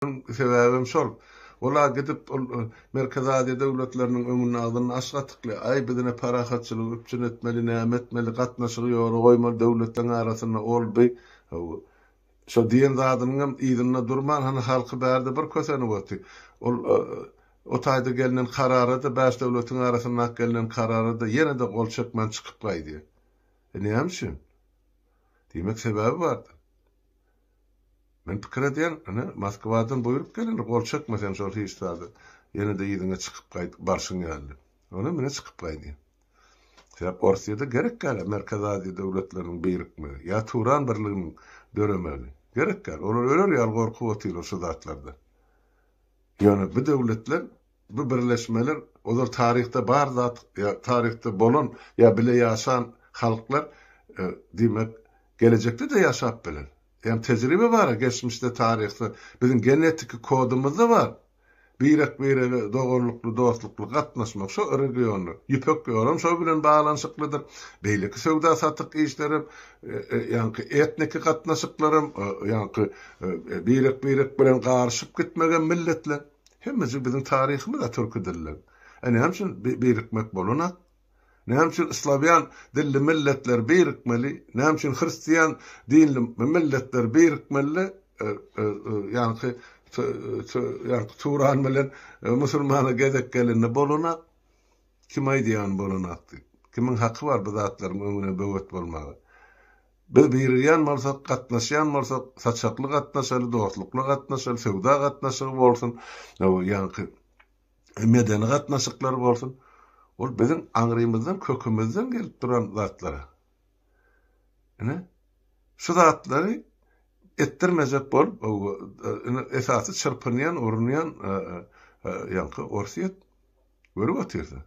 Munuň sebäbem şol. Ol-a gidip, ol Merkezi Aziýa döwletleriniň öňünde agzyny aç-gatykly, Aý, bizine parahatçylygy üpjün etmeli, näme etmeli, gatnaşygy ýola goýmaly döwletleň arasynda ol, bi, hawa, şo diýen zadynyňam yzynda durman, hany halky bärde bir kösenip oty. Ol o taýda gelnen karara-da, bäş döwletiň arasyndaky gelnen karara-da ýene-de gol çekmän çykyp gaýdýar. E, näme üçin? Diýmek, sebäbi bardyr. Men pikir edýän, ine, Moskwadan buýruk gelende gol çekme sen şol hiç zada. Ýene-de yzyňa çykyp gaýdyp barşyň ýaly. Onam ine çykyp gaýdy. Sebäp Orsiýada gerek däl-ä Merkezi Aziýa döwletleriniň birikmegi, ýa Turan birliginiň döremegi. Gerek däl. Olar öler ýaly gorkup otyrlar şu zatlardan. Ýöne bu döwletler. Bu birleşmeler ozal taryhda bar zat ýa taryhda bolan ýa bile ýaşan halklar diýmek gelejekde-de ýaşap biler. Ýagny tejribe bar-a geçmişde taryhda biziň genetiki kodumyzda bar birek-birege doganlykly dostlukly gatnaşmak şo regionda ýüpek ýolam şo bilen baglanyşyklydyr beýleki söwda satyk işlerem ýaňky etniki gatnaşyklaram ýaňky birek-birek bilen garyşyp gitmegem milletler Hemmejik biziň taryhymyz-a türki dilli. E näme üçin birikmek bolunak? Näme üçin slawýan dilli milletler birikmeli? Näme üçin hristiýan dinli milletler birikmeli? Ýaňky ýaňky turan bilen musulmana gezek gelende bolunak. Kim aýdýar ony bolunak diýip? Kimiň haky bar bu zatlaryň öňüne böwet bolmaga? Biz birigýän bolsak, gatnaşýan bolsak, saçakly gatnaşaly, dostlukly gatnaşaly, söwda gatnaşygy bolsun, ýaňky medeni gatnaşyklar bolsun. Ol biziň aňrymyzdan, kökümizden gelip duran zatlar. Ine, şu zatlary etdirmejek bolup, esasy çyrpynýan, urunýan ýaňky Orsýet görüp otyrsyň.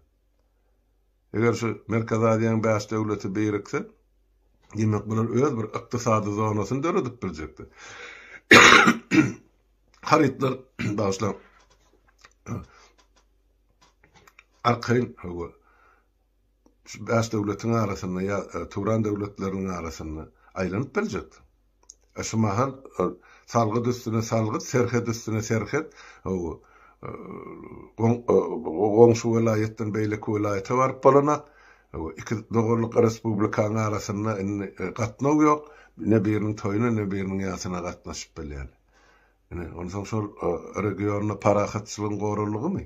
Eger şu Merkezi Aziýanyň bäş döwleti birikse, diýmek bular öz bir ykdysady zonasyny döredip biljekler. Harytlar, bagyşlaň, arkaýyn hawa, şu bäş döwletiň arasynda ýa e, Turan döwletleriniň arasynda aýlanyp biljekler. Şu mahal salgyt üstüne salgyt, serhet üstüne serhet goňşy welaýatdan beýleki welaýata baryp bolanak, iki doganlyk respublikanyň arasynda indi gatnaw ýok, ne biriniň toýuna, ne biriniň ýasyna gatnaşyp bilýän. Ine, onsoň şol regionda parahatçylygyň goraldygymy?